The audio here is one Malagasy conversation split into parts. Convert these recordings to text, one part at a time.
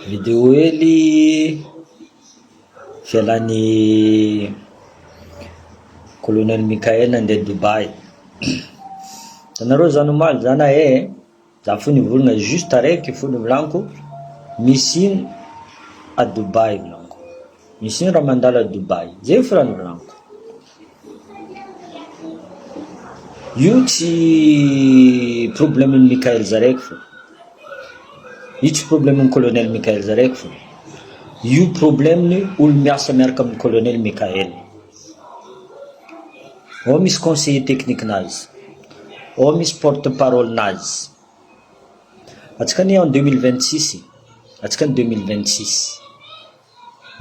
Video hely ivelan'ny kolonely Mickael nandeha Dubaï. Hitanareo zany omaly zany ee, za fony nivolana juste taraiky fony volaniko, misy ino à Dubaï volaniko, misy ino raha mandalo à Dubaï, zay fona ny volaniko. Io tsy problème n'i Mickael Zareko fa, io tsy problème n'i Colonel Mickael Zareko fa, io problème ny olo-miasa miaraka amin'ny Colonel Mickael, ao misy conseiller technique nazy, ao misy porte parole nazy, antsika anie en deux mille vingt six, antsika anie deux mille vingt six.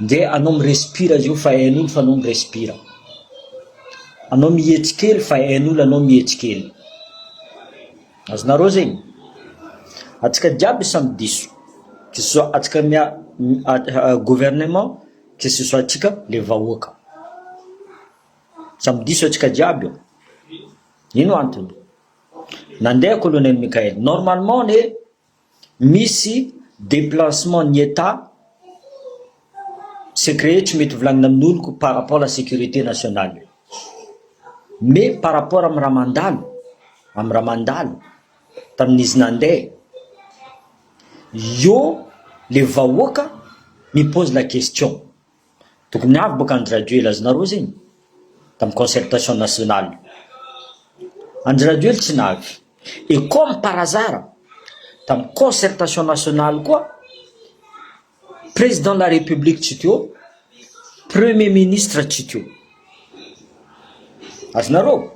Nge anao mi-respire zao fa hain'olo fa anao mi-respire. Anao mietry kely fa hain'olo anao mietry kely. Azonareo zegny? Atsika jiaby samy diso. Que ce soit atsika mia- mi- a- a- gouvernement, que ce soit atsika le vahoaka. Samy diso atsika jiaby io. Ino antony? Nandeha Colonel Mickael, normalement anie, misy deplacement ny Etat sec rehetra mety volagnina amin'oloko par rapport la sécurité nationale me par rapport amin'ny raha mandalo amin'ny raha mandalo tamin'izy nandeha eo le vahoaka mi pose la question Tokony avy boka an-dry Rajoely Rajaonareo zegny tam concertation national. An-dry Rajoely tsy navy. Et comme par hasard tam concertation national koa Président de la République tsy teo, Premier ministre tsy teo. Azonareo?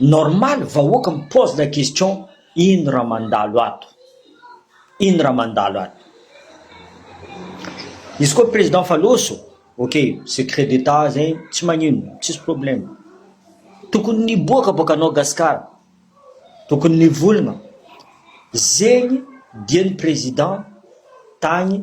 Normal vahoaka mi pose la question. Ino raha mandalo ato? Ino raha mandalo ato? Izy koa président fa loso, ok, secret d'Etat zegny tsy magnino, tsisy problème. Tokony niboaka boka anao Gascar, tokony nivolagna zegny dieny président tagny.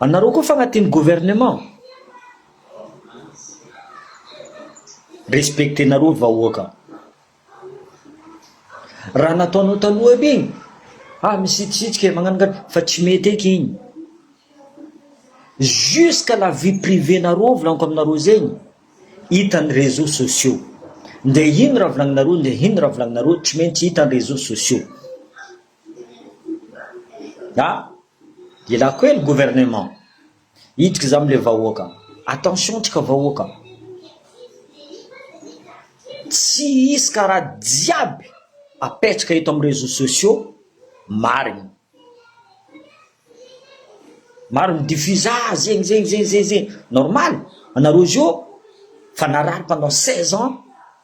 Anareo koa fagnatin'ny gouvernement? Respecter nareo vahoaka. Raha nataonao taloha aby igny, ah misitrisitrika e, magnano ngano, fa tsy mety eky igny. Jusqu'à la vie privée nareo volaniko aminareo zegny, hitan'ny réseaux sociaux. Ndeha ino raha volagninareo, ndeha ino raha volagninareo, tsy maintsy hitan'ny réseaux sociaux. A! Ela koa e ny gouvernement hiditra za amle vahoaka, attention ntsika vahoaka, tsy hisy ka raha jiaby apetraka eto am reseau sociaux marigny, maro mi diffuse ah zegny zegny zegny zegny, normal anareo zio fa narary pendant seize ans.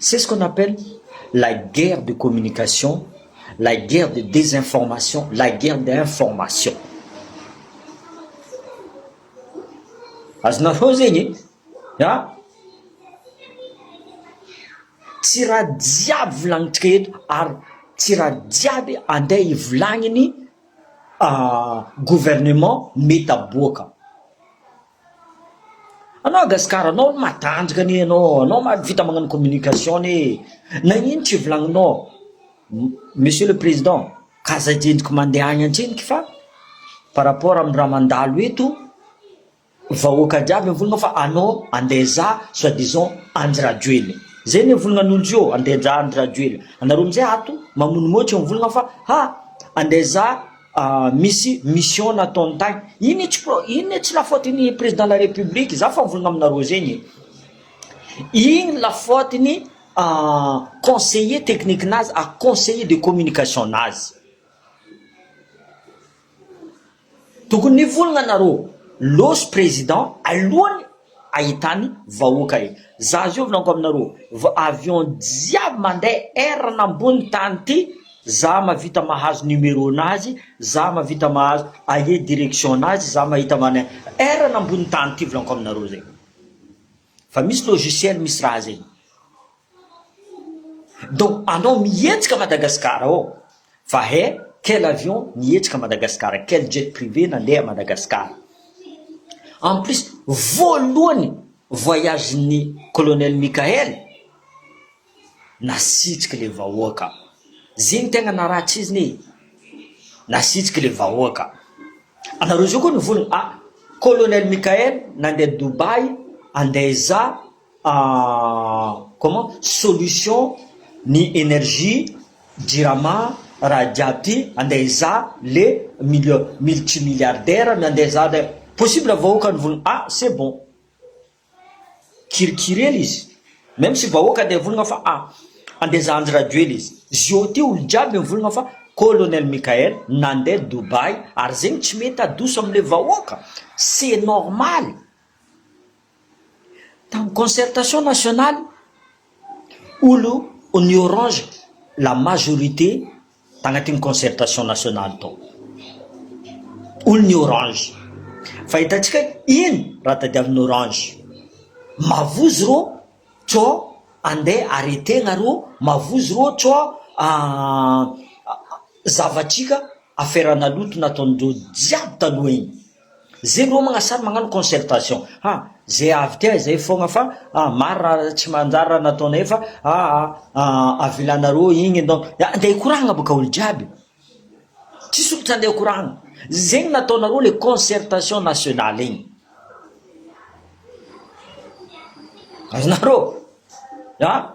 C'est ce qu'on appelle la guerre de communication, la guerre de désinformation, la guerre d'information. Azonareo zegny e, an! Tsy raha jiaby volagnitsika eto ary tsy raha jiaby andeha ivolagniny gouvernement mety aboaka. Anao a Gasikara anao aloha matanjaka anie ianao, anao mahavita magnano communication anie e, nagnino tsy volagninao Monsieur le Président ka zay jendriko mandeha agny antseniky fa par rapport amin'ny raha mandalo eto vahoaka jiaby mivolagna fa anao andeha hizaha soit disant Andry Rajoelina, zay anie volagnan'olo zio andeha hizaha Andry Rajoelina, anareo amizay ato mamonomoy tsy mivolagna fa ha andeha hizaha. misy mission nataony tany iny etsy pro iny etsy la faute ny président la république za fa mivolagna aminareo zegny e igny la faute ny conseiller technique nazy a conseiller de communication nazy tokony nivolagna nareo lôsy président alohany ahitany vahoaka e! Za zio vlaniko aminareo vao avion jiaby mande air nambony tany ty za mavita mahazo numero nazy za mavita mahazo aie direction nazy za mahita mane air nambony tany ty vlaniko aminareo zay fa misy logiciel misy raha zay Donc anao mihetsika Madagascar ao fa he quel avion nihetsika Madagascar quel jet privé nandeha Madagascar en plus voalohany voyage ny colonel Mickael nasitriky le vahoaka zegny tegna naraha tsizny e nasitriky le vahoaka anareo zao koa nivolagna ah colonel Mickael nandeha Dubai andaiza comment solution ny energie jirama raha jiaby ty andeha hizaha le mille multi milliardaire ny andeha hizaha le possible vahoaka ny volana ah c'est bon kirikiryely izy meme sy vahoaka andeha volana fa ah andeha hizaha anjy rajoely izy zio ty olo jiaby mivolana fa colonel Mickaël nandeha Dubaï ary zegny tsy mety adoso amle vahoaka c'est normal Tamin'ny concertation nationale, olo ny orange la majorité tagnatin'ny concertation nationale tao, olo ny orange, fa hitantsika ino raha tadiavin'ny orange, mavozo rô cò andeha arretegna rô, mavozo rô cò zavatrika affaire naloto nataon'ireo jiaby taloha igny. Zay no homagna sary magnano concertation ha zay avy ty ahy zay fogna fa ah maro raha tsy manjary raha nataonay fa ah ah avilanareo igny donc ah ndeha hikoragna boka olo jiaby tsy sokitra ndeha hikoragna zegny nataonareo le concertation nationale igny azonareo ah.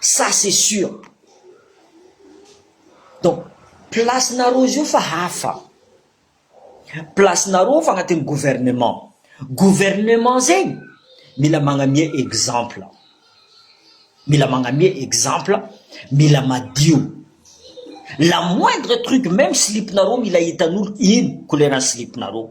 Ça c'est sûr. Donc place nareo izy io fa hafa. Place nareo fa agnatin'ny gouvernement. Gouvernement zegny mila magnamia exemple. Mila magnamia exemple, mila madio. La moindre truc même slip nareo mila hitan'olo ino couleur-n'ny slip nareo.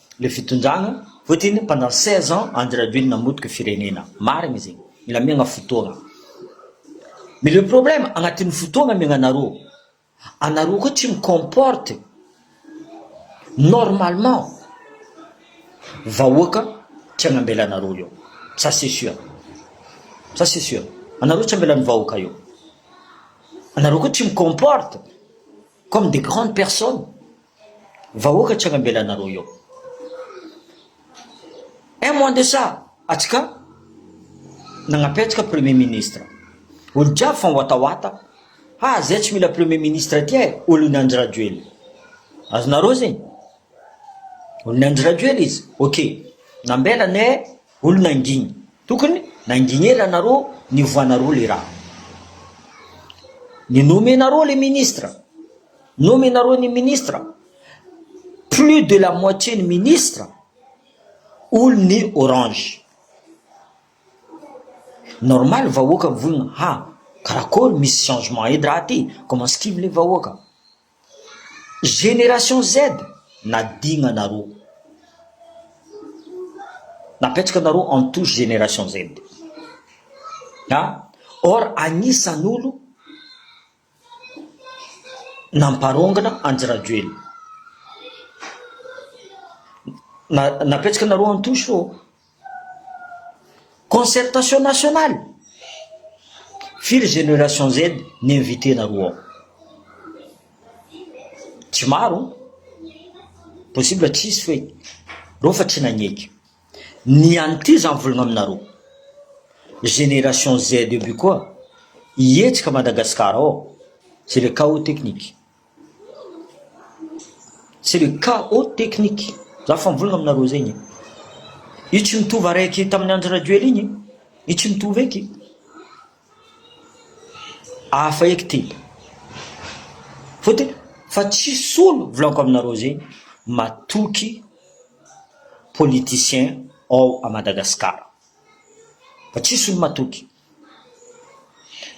Le fitondrana Poutine pendant seize ans Andry Rajoelina namotika firenena. Marigny zegny. Mila miagna fotoagna. Mais le problème agnatin'ny fotoagna miagnanareo, anareo koa tsy mi comporte normalement vahoaka tsy agnambela anareo io. Ça c'est sûr. Ça c'est sûr. Anareo tsy ambelan'ny vahoaka io. Anareo koa tsy mi comporte comme des grandes personnes. Vahoaka tsy hanambela anareo eo. Un mois de ça atsy ka nagnampy antsika premier ministre. Olo jiaby fa miwatawata, ha zay tsy mila premier ministre aty eh, olon'i Andry Rajoelina. Azonareo zegny? Olon'i Andry Rajoelina izy. Ok, nambela anay eh, olo nandigny. Tokony nandigny ela anareo niovoanareo le raha. Ni-nomenareo le ministre. Nomenareo ny ministre, plus de la moitié ny ministre olo ny orange. Normal vahoaka mivolona ha karakory misy changement edy raha ty, comment skimy le vahoaka. Génération Z nadigna nareo, napetraka nareo en touche génération Z. Ha or agnisan'olo. Namparongana an-dRajoelina. Napetsaka nareo an-tosi ô. Concertation nationale. Firy génération Z ni-inviter-nareo ao? Tsy maro? Possible tsisy fe reo fa tsy nagneky. Ny ihany ty za mivolagna aminareo génération Z aby koa hihetsika Madagascar ao c'est le chaos technique c'est le chaos technique za fa mivolagna aminareo zegny e, io tsy mitovy araiky tamin'ny Andry Rajoel igny e, io tsy mitovy eky. Hafa eky ty. Fotony fa tsisy olo volako aminareo zegny matoky politicien ao à Madagascar, fa tsisy olo matoky,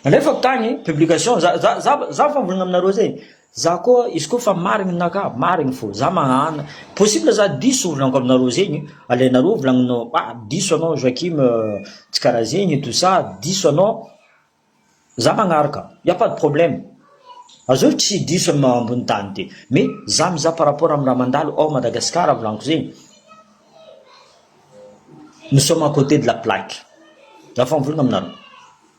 alefako tagny publication za za za fa mivolagna aminareo zegny. Za koa izy koa fa marigny ny naka marigny fô za magnana possible za diso volagniko aminareo zegny alainareo volagninao ah diso anao Joachim tsy karaha zegny tout ça diso anao za magnaraka il y'a pas de problème aza oe tsy diso am- ambony tany ty mais za mizaha par rapport am raha mandalo ao Madagascar volagniko zegny nous sommes à côté de la plaque za fa mivolagna aminareo.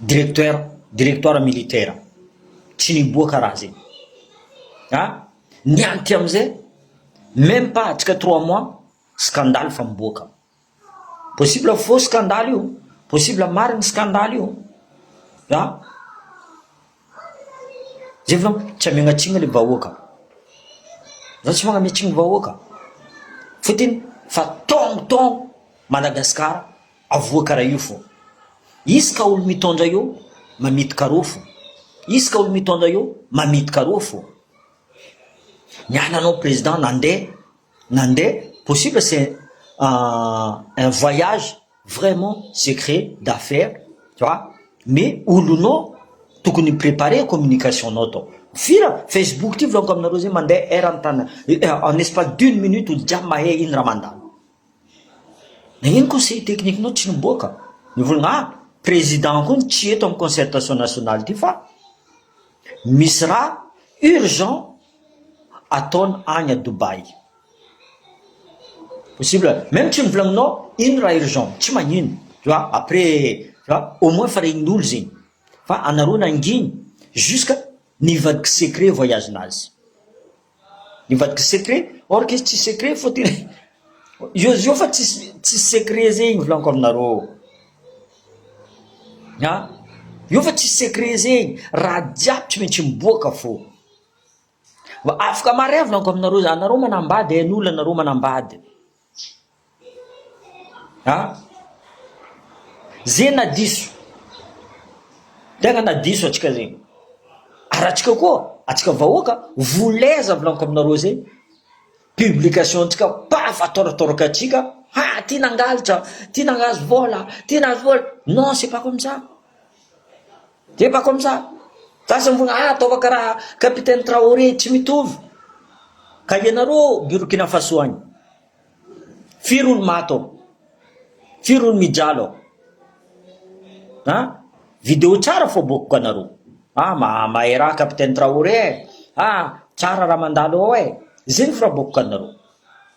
Directeur, directoire militaire, tsy niboaka raha zay. Ah! Ny ahy aty amzay, meme pas atsika trois mois, scandale fa miboaka. Possible faux scandale io, possible marigny scandale io. Ah! Zay vao tsy amegnatsigny le vahoaka. Za tsy magnametsigny vahoaka. Fotony fa taogno taogno Madagascar. Avoa kara io fô. Izy ka olo mitondra io mamito karô fô. Izy ka olo mitondra io mamito karô fô. Ny ana anao président nande nande possible c'est un voyage vraiment secret d'affaires tu vois mais olonao tokony mi-préparer communication nao atao fira facebook ty volaniko aminareo zay mande eran-tany en espace d'une minute olo jiaby mahay ino raha mandalo. Nagnino conseil technique nao tsy niboaka, mivolagna ah, président koa tsy eto amin'ny concertation nationale ity fa misy raha urgent ataony any à Dubaï, possible même tsy novolagninao ino raha urgent, tsy magnino tu vois après tu vois au moins efa regnin'olo zegny fa anareo nanginy jusqu'à nivadika secret voyage nazy. Nivadika secret, or que izy tsisy secret fa tena io io fa tsisy tsisy secret zay igny volaniko aminareo a, io fa tsisy secret zay igny, raha jiaby tsy maintsy miboaka fô, afaka mare volaniko aminareo zany, anareo manambady hain'olo anareo manambady. A, ze na diso, tegna na diso antsika zegny, ary antsika koa, antsika vahoaka voulais za volaniko aminareo ze publication ntsika paf atôratôraka antsika ha ty nangalatra, ty nangazo vôla, ty nahazo vôla, non c'est pas comme ça. Dia mba comme ça. Gasy ambony ah ataova karaha capitaine Traoré tsy mitovy. Ka ianareo ao Burkina Faso agny. Firy olo maty ao? Firy olo mijaly ao? A! Video tsara fo aboakiko anareo. Ah ma mahay raha capitaine Traoré eh. Ah tsara raha mandalo ao eh. Zegny fo raha aboakiko anareo.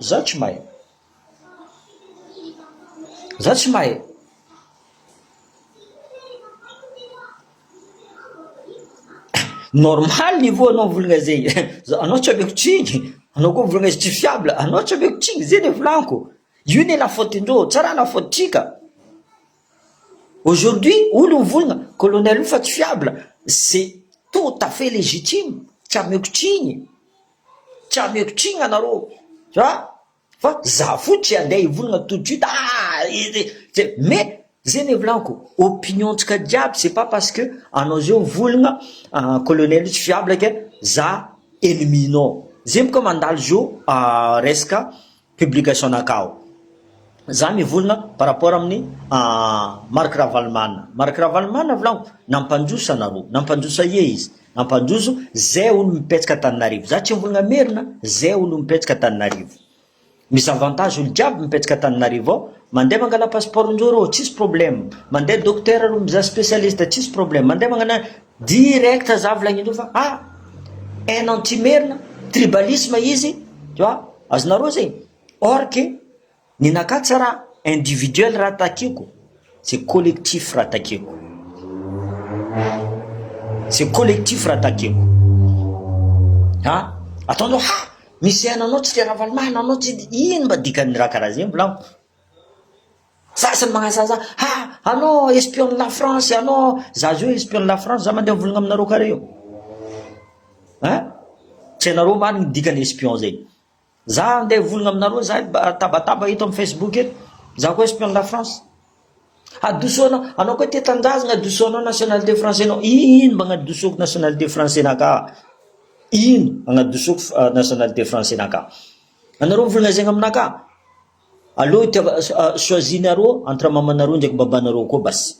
Izaho tsy mahay. Izaho tsy mahay. Normal ny voa anao volagna zay. Anao tsy ameko tsiny. Anao koa volagna izy tsy fiable. Anao tsy ameko tsiny zay le volaniko. Io ne la faute ndreo. Tsy raha la faute tsika. Aujourd'hui olo mivolagna colonel io fa tsy fiable. C'est tout à fait légitime. Tsy ameko tsiny. tsy hameko tsigna nareo a fa za fohy tsy handeha hivolagna tout de suite aa mais zegny le volagniko opinion ntsika jiaby c'est pas parce que anao zao mivolagna colonel io tsy fiable ke za ennemi nao zegny boka mandalo zo resaka publication nakao za mivolona par rapport aminy Marc Ravalomanana Marc Ravalomanana volagno nampanjoso anareo nampanjoso ahiey izy nampanjoso zay olo mipetsaka Antananarivo za tsy mivolagna merina zay olo mipetsaka Antananarivo misy avantage olo jiaby mipetsaka Antananarivo ao mande mangala passeport njoro ô tsisy problème mande docteur mizaha specialiste tsisy problème mande magnana Direct za volagniny teo fa ah haine anti-merina, tribalisme izy, tu vois, azonareo zay? Or que ny nakah tsy raha individuel raha takiko, c'est collectif raha takiko, c'est collectif raha takiko. Ha? Ataonao ha! Misy haine anao tsy le Ravalomanana anao tsy ino mba dikan'ny raha karaha zegny volaniko? Zaza ny magnano zaza ha anao espion ny la France anao zaza io espion ny la France za mandeha mivolagna aminareo kare io a tsy hainareo marigny ny dikany espion zay za andeha hivolagna aminareo za tabataba eto amy Facebook eto za koa espion ny la France hadosonao anao koa tia tanindrazagna hadosonao nationalité français nao ino mba agnadosoko nationalité français naka ino agnadosoko nationalité français naka anareo mivolagna zegny aminakahy Aleo itiava choisie nareo entre mamanareo ndraiky babanareo koa basy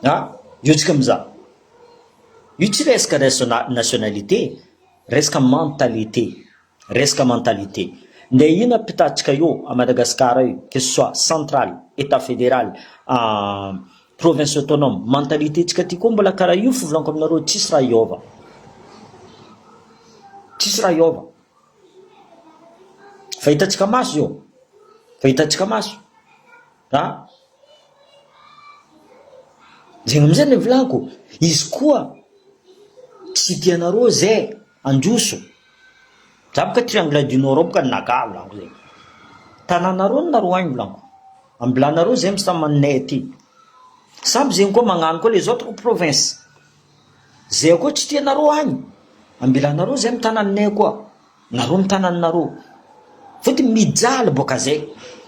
a! io tsika miza io tsy resaka resona nationalité resaka mentalité resaka mentalité nde ina mpitatsika eo a Madagascar io que ce soit central etat federal province autonome mentalité tsika ty koa mbola kara io fivolanko aminareo tsisy raha hiova tsisy raha hiova. Efa hitantsika maso izao, efa hitantsika maso a! Zay amizay no nivolaniko, izy koa tsy tia anareo ze handroso, za boka triangle du nord ao boka ny naga volaniko zay, tananareo no naroahina volaniko, ambilanareo zay misy tany maninay aty, samby zegny koa magnano koa les autres provinces, Zay akoa tsy tianareo agny, ambelanareo zay ny tananinay akoa, nareo ny tananinareo. Fotony mijaly boaka zay,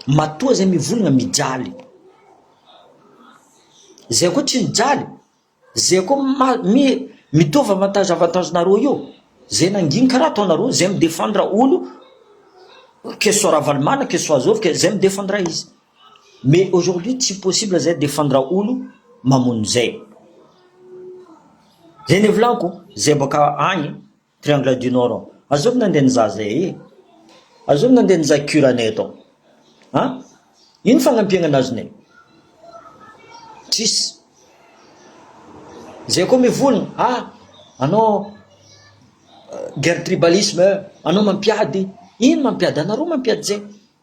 matoa zay mivolagna mijaly. Zay akoa tsy mijaly, zay akoa ma- mi- mitovy avantage avantage nareo io, zay nangigny karaha ataonareo, zay mi-defendre olo, que ce soit Ravalomanana, que ce soit Zovy, zay mi-defendre izy. Mais aujourd'hui tsy possible zay defendre olo mamono zay. Zay nevolaniko zay boaka agny triangle du nord ao. Azovy nandeha nizaha zay ee. Azovy nandeha nizaha cure anay atao. An? Ino fagnampiagna nazonay? Tsisy. Zay koa mivolagna ah anao guerre tribalisme, anao mampiady, ino mampiady anareo mampiady zay?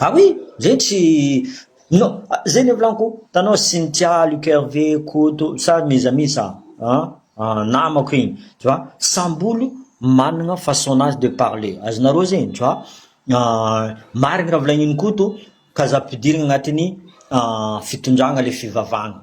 Ah oui! Zay tsy non zay le volaniko hitanao Cynthia, Luc Hervé, Koto sa mes amis sa an namako igny tu vois samby olo managna façon-nazy de parler azonareo zegny tu vois marigny raha volagnin'i Koto ka za ampidirigny agnatin'ny fitondragna le fivavahagna.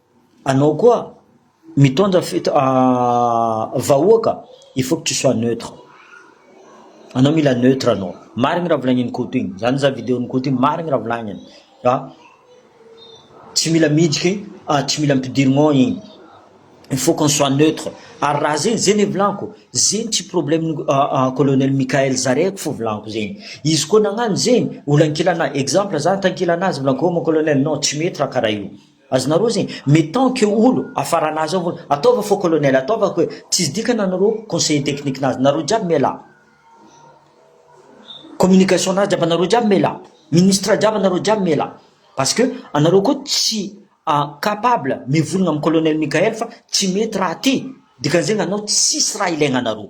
Anao koa mitondra fito vahoaka il faut que tu sois neutre anao mila neutre anao marigny raha volagnin'i Koto igny za nizaha videon'i Koto igny marigny raha volagniny fa tsy mila miditry tsy mila ampidirigno igny il faut qu'on soit neutre ary raha zegny zegny volagniko zegny tsy problème colonel Mickaël zare ko fo volagniko zegny izy koa nagnano zegny olo ankilanahy exemple za tankilanahy za volagniko ô mon colonel non tsy mety raha karaha io. Azonareo zegny mais tant que olo afaranazy ao vao ataova fô colonel ataova ko e tsisy dikany anareo conseiller technique nazy nareo jiaby mialà communication nazy jiaby anareo jiaby mialà ministre jiaby anareo jiaby mialà parce que anareo ko tsy capable mivolagna am colonel Mickael fa tsy mety raha ty dikan'izegny anao tsisy raha ilaigna anareo.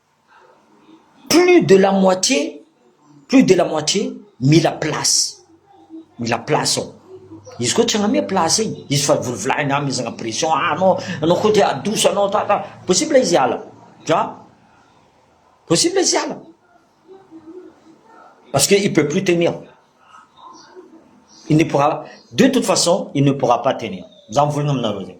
Plus de la moitié, plus de la moitié mila place, mila place ao, izy koa tsy hanome place e, izy fa volovolahiny hamezana pression ah anao, anao koa te hahadoso anao ta ta, possible izy hiala an, possible izy hiala parce que il peut plus tenir, il ne pourra, de toute façon il ne pourra pas tenir, za mivolagna aminareo zay.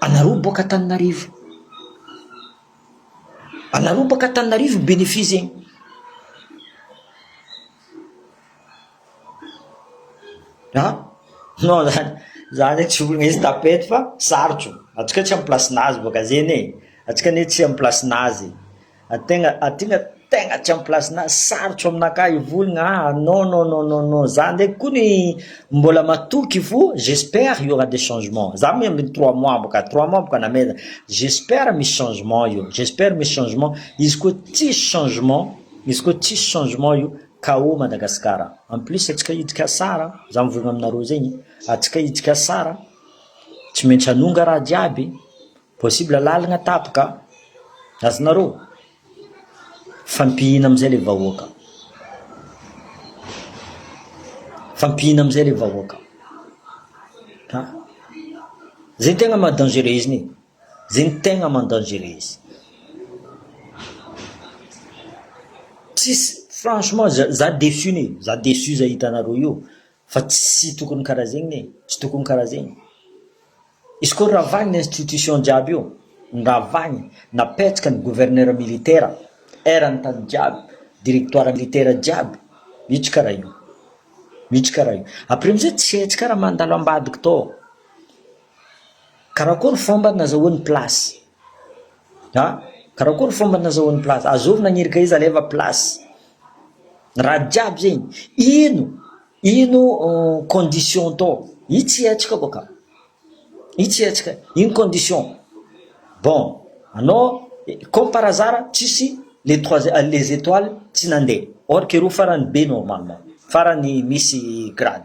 Anareo mipoaka Antananarivo, anareo mipoaka Antananarivo ny benefisa iny. An, non zany, zah zay tsy olona izy tapette fa sarotro, antsika tsy amin'ny place-nazy boka zeny e, antsika anie tsy amin'ny place-nazy. Tegna tegna tegna tsy am place-na sarotro aminakahy hivolagna ah non non non non non za ndraiky kony mbola matoky fo j'espère il y aura des changements za moa ambiny trois mois boka trois mois boka namela j'espère misy changement io j'espère misy changement izy koa tsisy changement izy koa tsisy changement io KO Madagascar en plus atsika hiditra Sar a za mivôlagna aminareo zegny atsika hiditra Sar a tsy maintsy hanonga raha jiaby. Possible lalagna tapaka azonareo fampihina amizay le vahoaka fampihina amizay le vahoaka ha zay ny tegna maha dangereux izy ni zay ny tegna maha dangereux izy tsisy franchement za za deçu ni za deçu zay hitanareo io Fa tsy tokony karaha zegny e, tsy tokony karaha zegny. Izy koa ravagny ny institution jiaby io, noravagny, napetraka ny gouverneur militaire, erany tany jiaby, directoire militaire jiaby, mitsy karaha io, mitsy karaha io. Après amizay tsy hetsika raha mandalo ambadika tao. Karakory fomba nazahoany place? Ha? Karakory ny fomba nazahoan'ny place? Azovy nagnirika izy aleva place. Raha jiaby zegny, ino ino condition tô? I tsy hetsika koa ka. I tsy hetsika, ino condition? Bon, anao comme par hasard tsisy les trois les étoiles tsy nandeha. Or que roa farany be normalement, farany misy grade.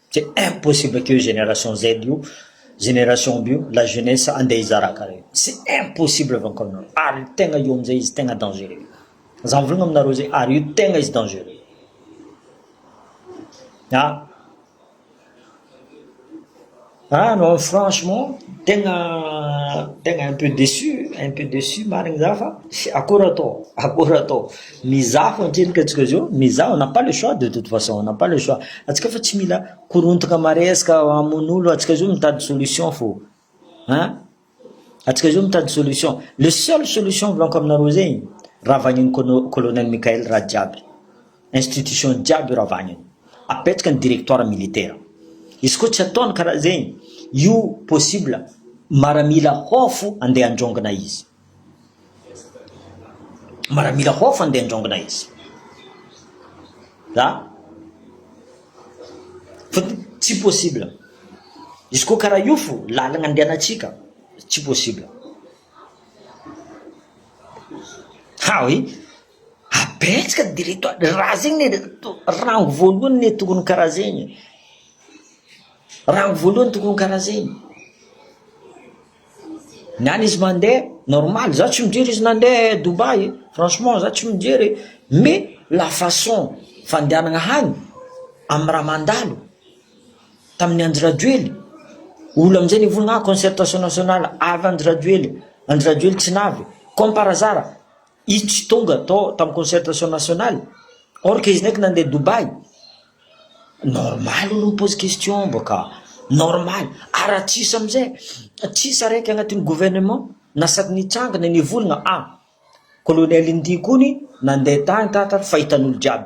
C'est impossible que io génération Z io, génération bio, la jeunesse andeha hizara kare. C'est impossible avy anko aminareo. Ary io tegna io amizay izy tegna dangereux. Za mivolagna aminareo zay ary io tegna izy dangereux. Ah. Ah non franchement tegna tegna un peu déçu, un peu déçu marigny za fa akôry atao, akôry atao. Mizaha fo antsika antsika izy io, mizaha on n'a pas le choix de toute façon, on n'a pas le choix, antsika fa tsy mila korontana maresaka hamono olo, antsika izy io mitady solution fo an, antsika izy io mitady solution, le seul solution volako aminareo zegny ravagniny kônô colonel Mickaël raha jiaby, institution jiaby io ravagniny, apetraka ny directoire militaire, izy koa tsy ataony karaha zegny, io possible maramila hôfo andeha handrôngana izy. Maramila hof andeha andraongina izy. Zah fa tsy possible. Izy koa karaha io fo lalagna andehanantsika tsy possible. Ha oui. Abetsaka direto raha zegny rango voalohany ne tokony karaha zegny. Rango voalohany tokony karaha zegny. Ny any izy mandeha normal, za tsy mijery izy nandeha Dubaï e, franchement za tsy mijery e, mais la façon fandehanana hany amin'ny raha mandalo tamin'ny Andry Rajoely, olona amin'izay nivolagna concertation nationale avy Andry Rajoely, Andry Rajoely tsy navy comme par hasard Izy tonga to tam concertation national or que izy ndraiky nandeha Dubaï, normal olo mi-pose question mbo ka, normal ary raha tsisy amizay tsisy araiky agnatin'ny gouvernement na sady nitranga na nivolagna a, colonel Ndy kony nandeha tany tatara fa hitan'olo jiaby.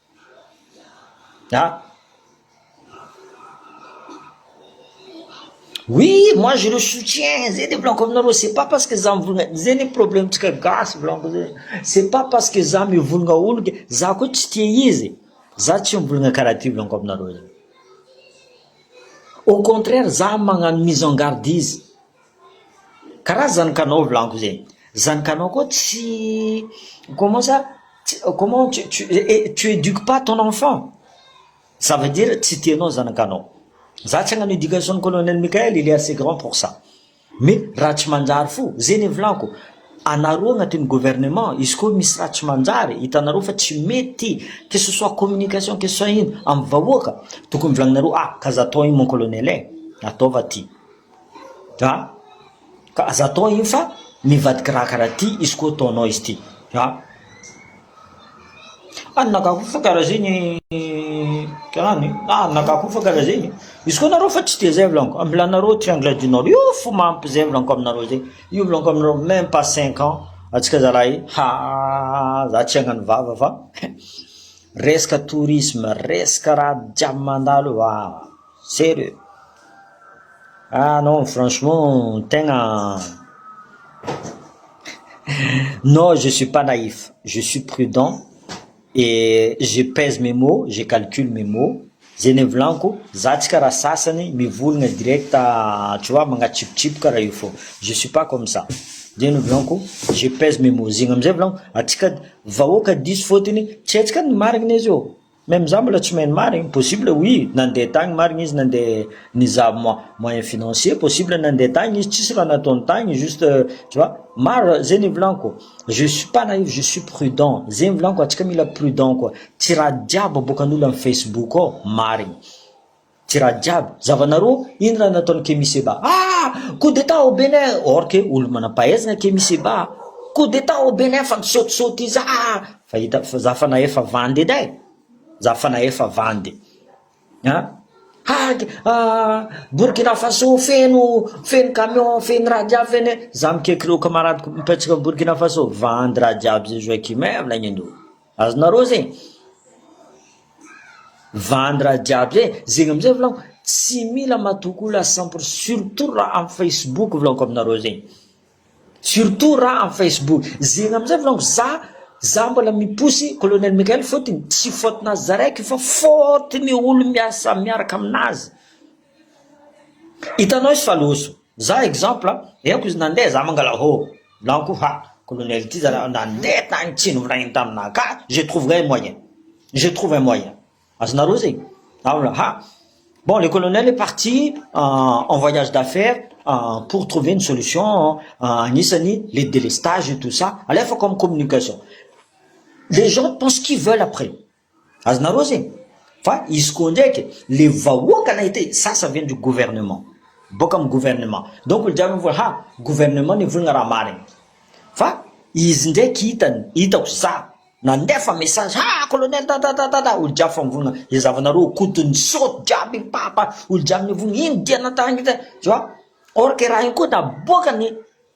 An! Oui moi je le soutiens zay le volaniko aminareo c'est pas parce que za mivonona zay le problème tsika gasy volaniko zay c'est pas parce que za mivonona olo ke za ko tsy tia izy e za tsy mivonona karaha ty volaniko aminareo zay au contraire za magnano mise en garde izy Karaha zany kanao volagno zay, zany kanao koa tsy comment ça tsy comment tu tu et tu eduques pas ton enfant, ça veut dire tsy tia anao zany kanao, za tsy hagnano education ny colonel Mickael il est assez grand pour ça, mais raha tsy manjary fo, zay ny volako, anareo agnatin'ny gouvernement izy koa misy raha tsy manjary hitanareo fa tsy mety que ce soit communication que ce soit ino amin'ny vahoaka tokony volagninareo ah ka za atao io mon colonel eh, ataova ty. An! Ka aza atao iny fa mivadika raha karaha ty izy koa ataonao izy ty an! An! Nagako fa karaha zegny an! Nagako fa karaha zegny, izy koa nareo fa tsy de zay volaniko, amilanareo triangle du nord io fo mampy zay volaniko aminareo zay, io volaniko aminareo meme pas cinq ans antsika zalahy haa za tsy hagnano vava fa resaka tourisme, resaka raha jiaby mandalo io aa. Sérieux? Ah non franchement tegna non je suis pas naïf je suis prudent et je pèse mes mots je calcule mes mots zay nevolaniko za tsy karaha sasany mivolagna direct tu vois magnatsipitsipy karaha io fô je suis pas comme ça zay nevolaniko je pèse mes mots zegny amizay volaniko atsika vahoaka diso fôtony tsy hetsika ny marigny izy ô. Même za mbola tsy mahay ny marigny, possible oui nandeha tagny marigny izy nandeha nizaha moy- moyen financier, possible nandeha tagny izy tsisy raha nataony tagny juste tu vois, maro ze nivolaniko, je suis pas naïf je suis prudent, ze nivolaniko atsika mila prudent koa, tsy raha jiaby aboakan'olo am facebook ao marigny. Tirade jiaby, zavanareo, ino raha nataon'i Kemi Seba ah! Coup d'Etat au Bénin, or que olo manam-pahaizana Kemi Seba ah! Coup d'Etat au Bénin fa misaotisaoty iza ah! Fa hita fa za fa nahefa vandy edy eh! Za fa nahefa vandy ah! Hag ah! Burkina Faso feno feno camion feno raha jiaby feno eh! Za mikeky reo kamaradiko mipetraka Burkina Faso, vandy raha jiaby zay Joachim eh! Avy laingany reo. Azonareo zegny vandy raha jiaby zay, zegny amizay volagno tsy mila matoky olo à cent pour surtout raha am facebook volagno aminareo zegny, surtout raha am facebook, zegny amizay volagno za za mbola miposy colonel Mickael fôtony tsy faute nazy za raiky fa faute ny olo miasa miaraka aminazy Hitanao izy fa loza, za exemple henoko izy nandeha za mangalahô, za ko ha kolonely ty za nandeha tany tsy nivolagniny taminah ka je trouverai un moyen, je trouve un moyen, azonareo zay, za mbola ha bon le colonel est parti en voyage d'affaire pour trouver une solution agnisany le delestage et tout ça, alefako amin'ny communication, les gens pensent ce qu'ils veulent après. Azonareo zay? Fa izy koa ndraiky le vahoaka nahita hoe ça ça vient du gouvernement, boaka amin'ny gouvernement, donc olo jiaby mivola ha gouvernement no hivolagna raha marigny, fa izy ndraiky hitany, hitako za nandefa message ha colonel tatatatata, olo jiaby fa mivolagna ze zavanareo koto nisaoty jiaby mipapa, olo jiaby mivolagna ino dianao tagny, tu vois, or que raha igny koa naboakany.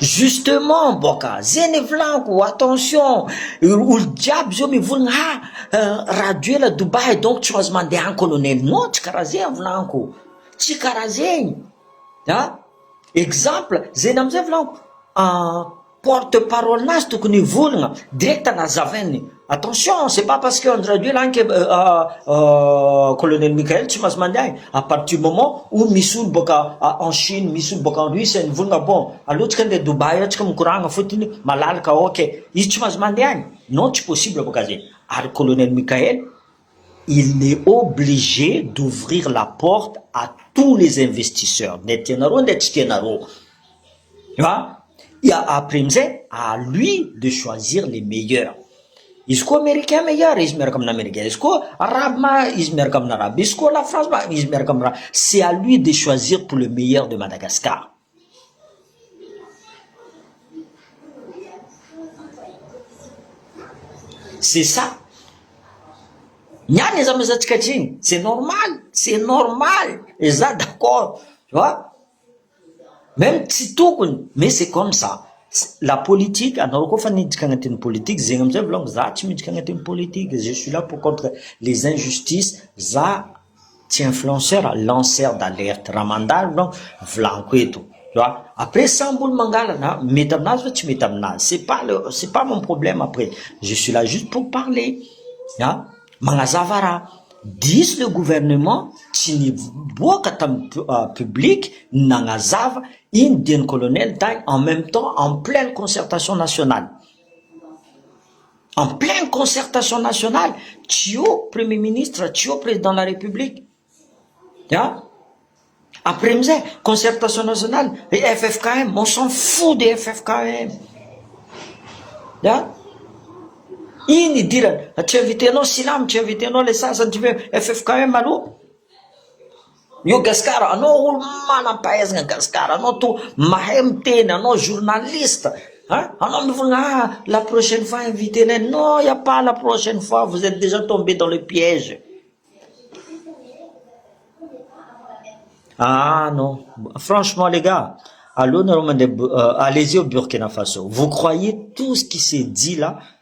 Justement boka zay le volako attention olo jiaby zao mivolagna ha Rajoela Dubaï donc tsy maintsy mande any colonel non tsy kara zay volako tsy kara zegny an exemple zegny amizay volako. porte parole nazy tokony hivolagna direct nazavainy attention c'est pas parce que Andry Rajoelina agny ke colonel Mickael tsy maintsy mandeha agny à partir du moment où misy olo boaka en Chine misy olo boaka en Russie any mivolagna bon aleo tsika ndeha Dubaï ao tsika mikoragna fotony malalaka ok izy tsy maintsy mandeha agny non tsy possible boka zegny ary colonel Mickael Il n'est obligé d'ouvrir la porte à tous les investisseurs, nety ianareo nety tsy tianareo, fa dia après amizay à lui de choisir les meilleurs, izy koa americain meilleur izy miaraka amina americain, izy koa arabe ma izy miaraka amina arabe, izy koa la France ma izy miaraka amina, c'est à lui de choisir pour le meilleur de Madagascar. C'est ça. Ny any aza mazantsika atriny, c'est normal, c'est normal, et za d'accord, tu vois. Même tsy tokony, mais c'est comme ça. La politique, anareo koa fa niditra agnatin'ny politique, zegny amizay volagno, za tsy miditra agnatin'ny politique, je suis là pour contre les injustices, za. Tsy influenceur a, lanceur d'alerte, raha mandalo ianao volaniko eto, tu vois, après sambo olo mangalana a, mety aminazy ve tsy mety aminazy, c'est pas le, c'est pas mon problème après, je suis là juste pour parler a, magnazava raha, diso le gouvernement tsy niboaka tam public nagnazava iny dian'i colonel tay en même temps en pleine concertation nationale. En pleine concertation nationale, tsy eo Premier Ministre, tsy eo Président de la République. An! Après amin'izay, concertation nationale, ry ffkm, on s'en fout des ffkm. An! Iny idirana, tsy inviter-nao Silamo, tsy inviter-nao ilay sasany, tsy inviter-nao ffkm aloha. Io Gascar anao olo manampahaizana Gascar anao to mahay miteny anao journaliste a anao mivolagna ah la prochaine fois invite nay non y'a pas la prochaine fois vous etes dejà tombé dans le piège ah non franchement les gars aleo nareo mandeha allez-y au Burkina Faso vous croyez tout ce qui se dit là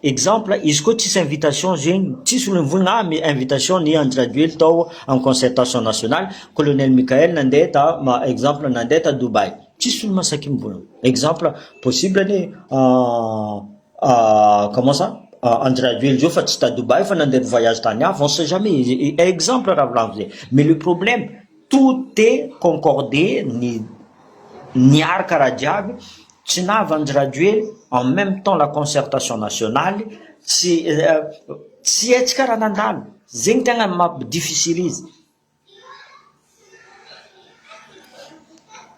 Exemple, izy koa tsisy invitation zegny, tsisy olo nivony ah me invitation ny Andry Rajoely tao am concertation nationale, Colonel Mickaël nandeha ta exemple nandeha ta Dubaï, tsisy olo masaky mivony, exemple possible anie comment ça Andry Rajoely zao fa tsy ta Dubaï fa nandeha voyage tany hafa, on sait jamais, exemple raha volagno zay, mais le problème, Toute concorde ny niarka raha jiaby, tsy nava andry rajoely, en meme temps la concertation nationale, tsy tsy hetsika raha nandalo, zegny tegna mampi difficilize.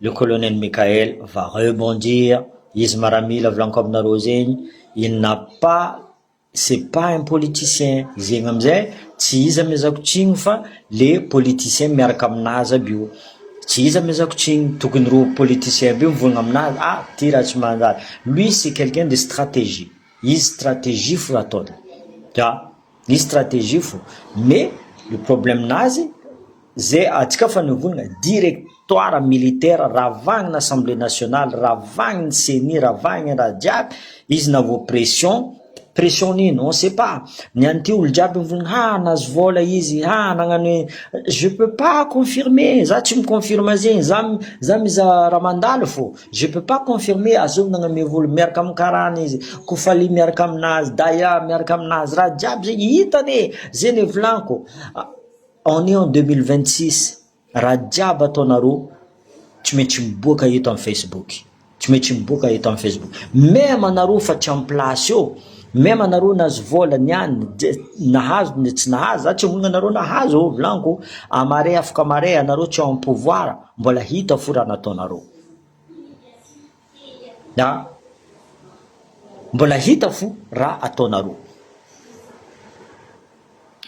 Le colonel Mickaël va rebondir, izy maramila volaniko aminareo zegny, il n'a pas, c'est pas un politicien, zegny amizay tsy izy amezako tsigny fa le politicien miaraka aminazy aby io, tsy izy amezako tsigny, tokony reo politicien aby io mivonogna aminazy, ah ty raha tsy manjary, lui c'est quelqu'un de stratégie, izy stratégie fo ataony, ya. Misy stratégie fo mais le problème nazy ze atsika fa nivonona directoire militaire ravagny assemblée nationale ravagny ny ceni ravagny raha jiaby izy na vao pression pression nino on sait pas ny any ty olo jiaby mivonona ha nahazo vola izy ha nagnano e je peux pas confirmer za tsy mi confirme zegny za za mizaha raha mandalo fo Je peux pas confirmer azony nagname vola miaraka am karana izy kofali miaraka aminazy daya miaraka aminazy raha jiaby zegny hitany e zegny e volaniko on est en 2026 raha jiaby ataonareo tsy maintsy miboaka eto am facebook tsy maintsy miboaka eto am facebook meme anareo fa tsy am place eo meme anareo nahazo vola niany nahazo na tsy nahazo za tsy amorogna anareo nahazo volaniko amare afaka amare anareo tsy ao am pouvoir mbola hita fo raha nataonareo Na mbola hita fo ra ataonareo.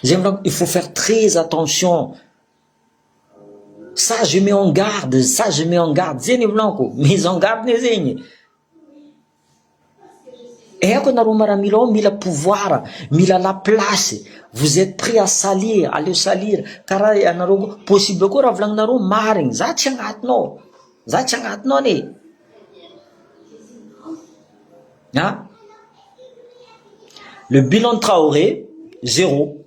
Zay mba il faut faire très attention ça je mets en garde ça je mets en garde zay ny volako mise en garde ne zegny e. Aiko ianareo maramila ao mila pouvoir, mila la place, vous êtes prêt à salir, aleo salir, karaha ianareo koa possible koa raha volagninareo marigny, za tsy agnatiny ao, za tsy agnatiny ao anie, an! le bilan Traoré zéro.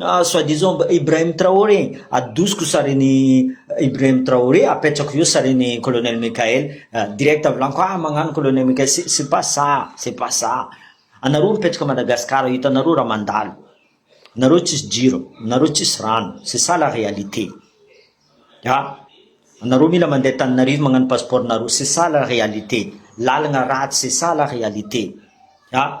Ah soit disant Ibrahim Traoré, adosiko sarin'i Ibrahim Traoré, apetrako eo sarin'i Colonel Mickaël, direct avy laniko ah magnano Colonel Mickaël, c'est c'est pas ça, c'est pas ça, anareo mipetraka Madagascar ao hitanareo raha mandalo, nareo tsisy jiro, nareo tsisy rano, c'est ça la réalité, ah anareo mila mandeha Antananarivo magnano passeport nareo, c'est ça la réalité, lalagna ratsy, c'est ça la réalité, ah.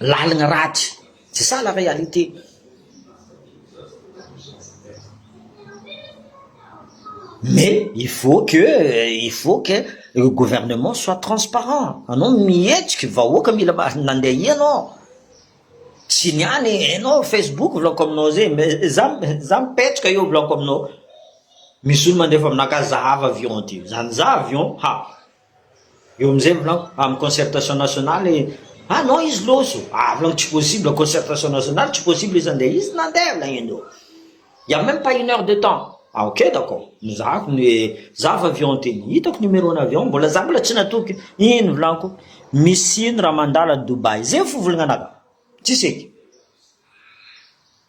Lalina ratsy tsy sala réalité. Mais il faut que il faut que le gouvernement soit transparent anao mihetsika vahoaka mila nandeha aia anao tsy ny any enao facebook vlog-ko aminao zay mais za za mipetraka eo vlog-ko aminao misy olo mandefa aminakahy zahava avion ty zany za avion ha Eo amizay volako amin'ny concertation nationale et ah non izy lozo ah volako tsy possible concertation nationale tsy possible izy andeha izy nandeha lagnindreo il y a même pas une heure de temps ah ok d'accord nozahako ny hoe za fa avion teny hitako numéro ny avion mbola za mbola tsy natoky iny volako misy ino raha mandala Dubaï zay fivolagnanako tsisy eky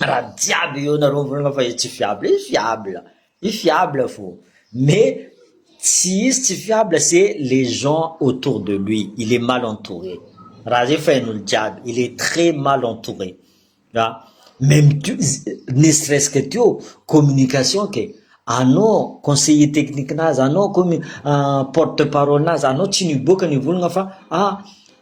Ra jiaby eo nareo mivolagna fa izy tsy fiable, izy fiable, izy fiable fô mais tsy izy tsy fiable se les gens autour de lui, il est mal entouré, ra zegny fa hain'olo jiaby il est très mal entouré ra même tu ne serait-ce que teo communication ke anao conseiller technique-nazy anao koa porte parole-nazy anao tsy niboaka nivolagna fa ah.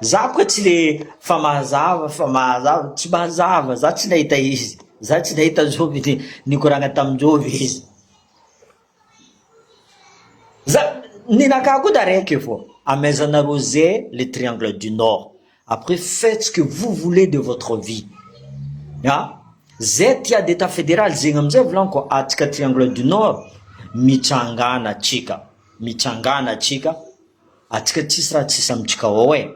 Za boka tsy le fa mazava fa mazava tsy mazava za tsy nahita izy za tsy nahita joby de nikoragna tam joby izy za ninakà koa taraiky fô amezana rose le triangle du nord après faites ce que vous voulez de votre vie ah zay tia de ta federal zegny amizay volagniko atsika triangle du nord mitsangana atsika Mitsangana atsika, atsika tsisy raha tsisy amintsika ao e!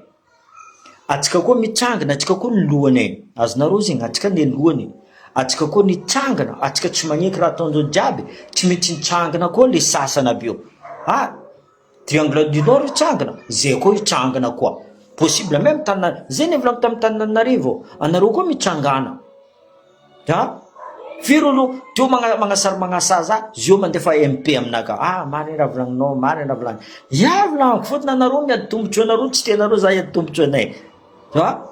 Atsika koa mitsangana, atsika koa ny lohany e! Azonareo zegny, atsika ne lohany, atsika koa nitsangana, atsika tsy magneky raha ataon'ireo jiaby e! Tsy maintsy hitsangana koa le sasany aby eo, ha! Triangle du nord hitsangana, zay koa hitsangana koa, possible meme Tanana- zay nivolaniko tamin'ny Tananarivo, anareo koa mitsangana. An? Firy olo teo magna- magnasary magnasaza zio mandefa MP aminà ka. Ah, marigny raha volagninao, marigny raha volagny. Yah volagniko, fotony anareo ny ady tombontsoanareo tsy tianareo za hiady tombontsoanay. Fa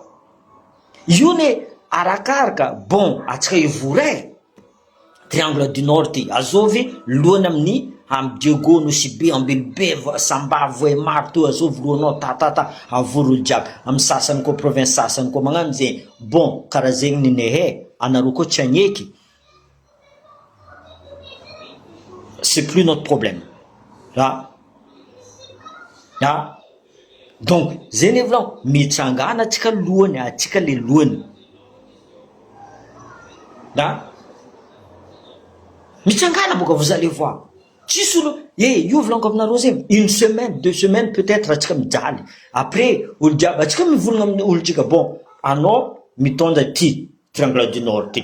io ne arakaraka, bon antsika hivory e. Triangle du Nord ty, azovy lohany amin'ny Ham Diego, Nosibe, Ambilobe, Vo- Samba, Vohemar, to azovy lohanao ta ta ta, avory olo jiaby. Amin'ny sasany koa province sasany koa magnano zegny. Bon kara zegny ny nehe anareo koa tsy agneky c'est plus notre problème ah ah donc zegny efa aloha mitsangana atsika lohany atsika le lohany ah mitsangana boka vous allez voir. Tsisy olo eh io vlango aminareo zay une semaine deux semaines peut etre atsika mijaly après olo jiaby atsika mivonona aminy olo tsika bon anao mitondra ty triangle du nord ty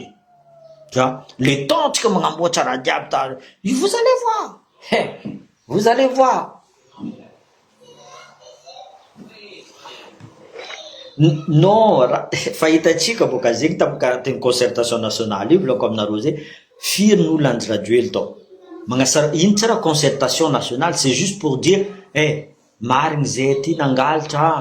za le temps tsika magnamboatra raha jiaby da io vous allez voir eh vous allez voir. Non, raha fa hitantsika vao gazegny tam carte ny concertation nationale io volagniko aminareo zay, firy ny olona anjrajoely tao? Magnasar ino tsy raha concertation nationale c'est juste pour dire eh marigny zay ty nangalatra ah!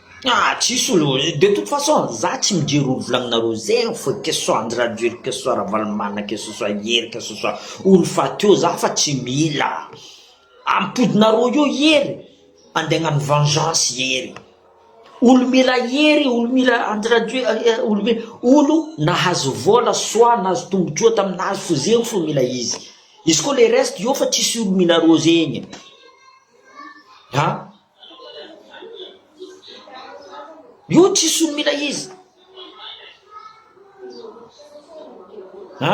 Ah tsisy olo de toute façon za tsy mijery olo volagninareo zegny fô que ce soit Andry Rajoely que ce soit Ravalomanana que ce soit Hery que ce soit olo fa teo za fa tsy mila ampodinareo eo Hery ande agnano vengeance Hery olo mila Hery olo mila Andry Rajoely olo mila olo nahazo vôla soit nahazo tombotsoa taminazy fô zegny fô mila izy izy ko le reste eo fa tsisy olo mila reo zegny ah. Io tsy solon'ilay izy. Ha?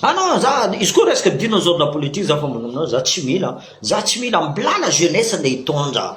Ah non, za izy koa resaka dino zao na politique za fa mbola za tsy mila, za tsy mila mbola na jeunesse nde hitondra.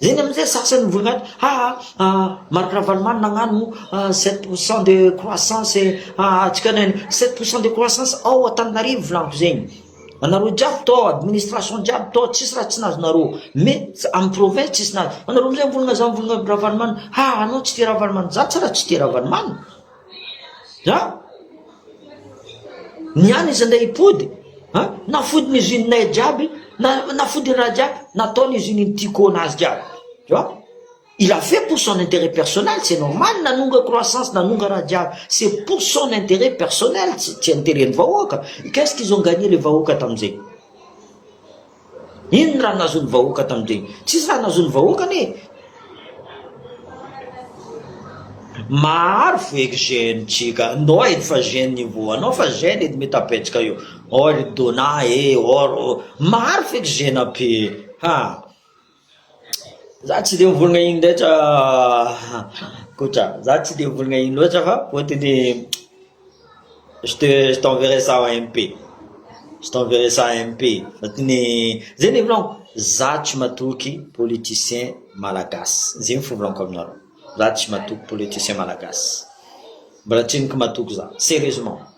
Eny amin'izay sasany ny voninahitra, ha ha ha, Marc Ravalomanana nagnano sept pour cent de croissance hahatsika anay ny sept pour cent de croissance ao Antananarivo volagniky zegny, anareo jiaby tô administration jiaby tô tsisy raha tsy nazonareo, mais amin'ny province tsisy nahazo, anareo amizay mivolagna zany mivolagna Ravalomanana, ha anao tsy tia Ravalomanana, za tsara tsy tia Ravalomanana. An? Ny any izy ndray hipody, an? Nafody ny usine nay jiaby, na nafody ny raha jiaby, natao ny usine ny Tico nazy jiaby. Tu vois? Il a fait pour son intérêt personnel, c'est normal nanonga croissance, nanonga raha jiaby. C'est pour son intérêt personnel, tsy tsy intérêt ny vahoaka. Qu'est-ce qu'ils ont gagné le vahoaka tamin'izay? Inona raha nahazoan'ny vahoaka tamin'ireny? Tsisy raha nahazoan'ny vahoaka anie e! Maharo vo eky jeune tsika ndao edy fa jeune io vo anao fa jeune edy me tapetsaka io or dona e or maharo feky jeune ape ha. Za tsy de mivolagna iny rehetra Koto ah, za tsy de mivolagna iny loatra fa fôtony je te je t'enverrai ça en MP, je t'enverrai ça en MP fôtony zegny le volagniko za tsy matoky politicien malagasy, zegny fivolagnako aminareo, za tsy matoky politicien malagasy, mbola tsy niko matoky za, serieusement.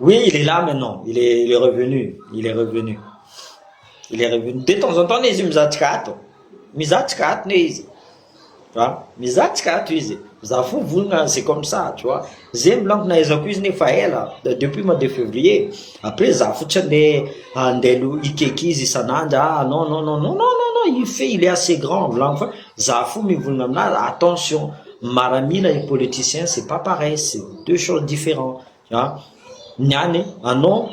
Oui, il est là maintenant, il est, il est revenu, il est revenu. Il est revenu. De temps en temps izy mizatsika ato. Mizatsika ato ne izy. Tu vois? Mizatsika ato izy. Za fo volona c'est comme ça, tu vois. Zay milankona aizako izy nefa ela depuis mois de février. Après za fotsiny le andeha lo ikeky izy isan'andro. Ah non non non non non non, il fait, il est assez grand. Volagno fa Za fo mivonona aminazy attention maramila et politicien c'est pas pareil c'est deux choses differents a ny any anao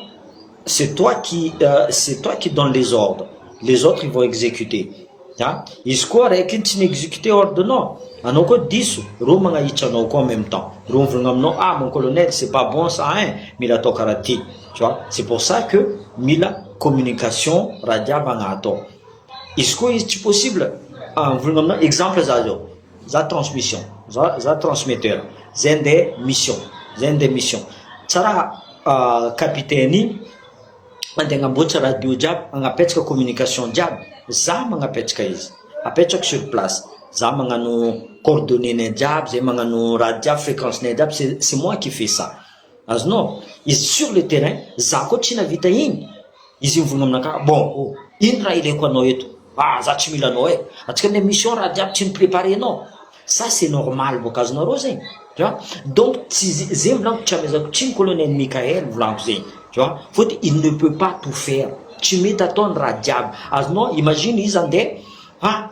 c'est toi qui c'est toi qui donne les ordres les autres ils vont executer a izy koa raiky iny tsy mi-executer ordre nao anao koa diso reo magnahitra anao koa en meme temps reo mivolagna aminao ah mon colonel c'est pas bon ça hein mila atao karaha ty tu vois c'est pour ça que mila communication raha jiaby agnatao Izy koa izy tsy possible ah mivolagna aminao exemple za zao za transmission za za transmetteur zay nde mission zay nde mission tsa raha capitaine igny mande agnamboatsa radio jiaby agnapetsaka communication jiaby za magnapetsaka izy apetrako sur place za magnano coordonner-nay jiaby zay magnano raha jiaby frequence-nay jiaby c'est moi qui fait ça. Azonao? Izy sur le terrain, za koa tsy navita igny, izy mivogno aminakà, bon ô, ino raha ilaiko anao eto? ah za tsy mila anao e, atsika ny mission raha jiaby tsy ni-preparenao, ça c'est normal bôka, azonareo zegny? tu vois, donc tsy ze, zegny volaniko tsy amezako tsiny colonel Mickaël volaniko zegny, tu vois, fôtony il ne peut pas tout faire, tsy mety atao ny raha jiaby, azonao? imagine izy andeha, ah.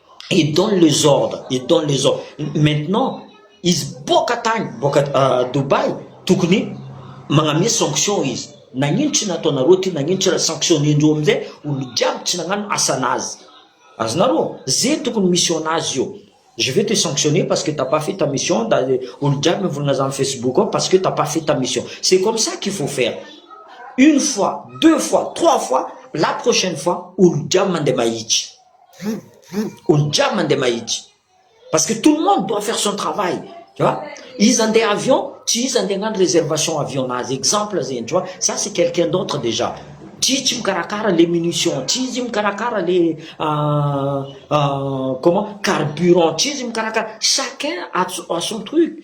i donne les ordres i donne les ordres maintenant izy boka tany boka euh, Dubai tokony magname sanction izy nagnino tsy nataonareo ty nagnino tsy sanctionnendreo amizay olo jiaby tsy nagnano asanazy azonareo ze tokony mission nazy io je vais te sanctionner parce que t'as pas fait ta mission da olo jiaby mivolagna zany Facebook ao parce que t'as pas fait ta mission c'est comme ça qu'il faut faire une fois deux fois trois fois la prochaine fois olo jiaby mandeha mahitsy Olo jiaby mandeha mahitsy parce que tout le monde doit faire son travail tu vois, izy handeha avion tsy izy handeha hagnano réservation avion nazy exemple zegny tu vois, ça c'est quelqu'un d'autre déjà, tsy izy tsy mikarakara le munition, tsy izy mikarakara le comment carburant, tsy izy mikarakara, chacun a son truc.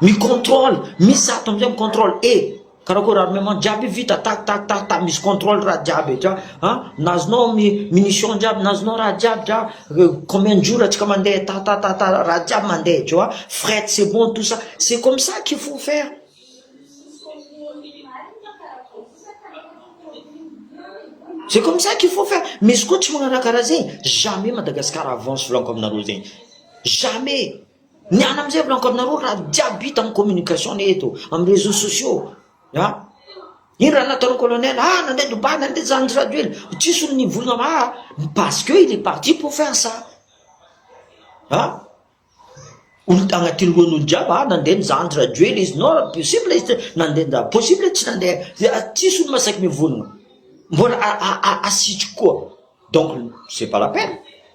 Mi control, mi zato amizay mi control e! Karakôry ary maman jiaby vita tak tak tak tak misy control raha jiaby dra an! Nazonao mi munition jiaby nazonao raha jiaby dra combien de jour atsika mandeha ta ta ta ta raha jiaby mandeha jo a! Fret c'est bon tout ça c'est comme ça qu'il faut faire. C'est comme ça qu'il faut faire, misy koa tsy magnana karaha zegny jamais Madagascar avance volaniko aminareo zegny jamais. Ny an amin'izay mbola ankoronarony raha jiaby hita amin'ny communication ne eto amin'ny réseaux sociaux a iny raha nataon'ny colonel ah nandeha Dubaï nandeha zany tsy Rajoelina tsisy olona nivolagna ma parce que il est parti pour faire ça a olo agnatin'ny lohan'olo jiaby ah nandeha ny zandry Rajoelina izy non possible izy tsy nandeha nda possible tsy nandeha dia tsisy olo masaiky mivolagna mbola asitry koa donc c'est pas la peine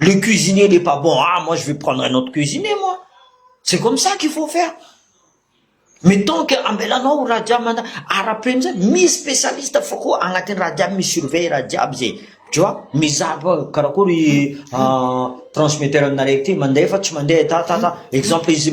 le cuisinier n'est pas bon ah moi je vais prendre un autre cuisinier moi c'est comme ça qu'il faut faire mais tant que ambelanao ho raha jiaby manda ara-peno zay misy specialiste fa koa agnatin'ny raha jiaby mi surveille raha jiaby zay tu vois mizaha fa karakory transmetteur anareo ty mandeha fa tsy mandeha ta ta ta exemple izy